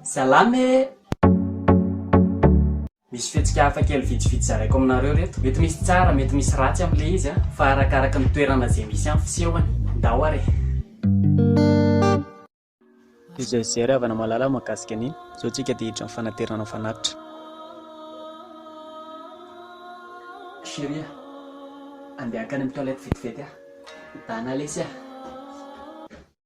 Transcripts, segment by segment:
Salama e! Misy fihetsika hafa kely vitsivitsy zaraiko aminareo reto. Mety misy tsara, mety misy ratsy amin'ilay izy an, fa arakaraka ny toerana izay misy an'ny fisehony. Ndao ary e! Izay Zery havana mahalala mahakasika an'iny, izao tsika dia hiditra amin'ny fanaterana ny fanatitra. Chérie a! Andeha hankany amin'ny toilette vetivety aho. Dana lesy a!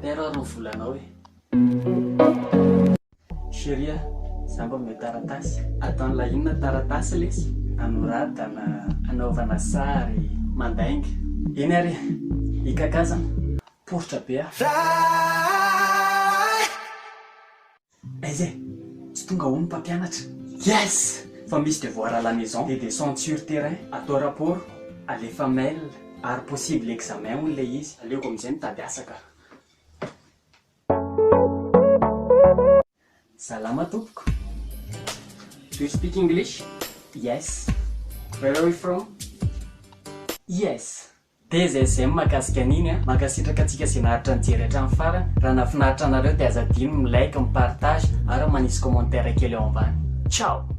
Père aho reo volanao e. Chérie a, za mba omeo taratasy. Ataon'la inona taratasy lesy? Anoratana, anaovana sary, mandainga. Eny ary e, i Kaka zany poritra be a. Aiza e? Tsy tonga hono mpampianatra? Yes! Fa misy devoir à la maison dia descente sur terrain, atao rapport, alefa mail ary possible examen hono ilay izy. Aleoko amin'izay mitady asa ka! Salama tompoko! Do you speak English? Yes! Where are you from? Yes! DZM mahakasika an'iny a! Mankasitraka antsika ze naharitra nijery hatramin'ny farany, raha nahafinaritra anareo dia aza adino ny mi-like, mi-partage ary manisy commentaire kely ao ambany. Ciao!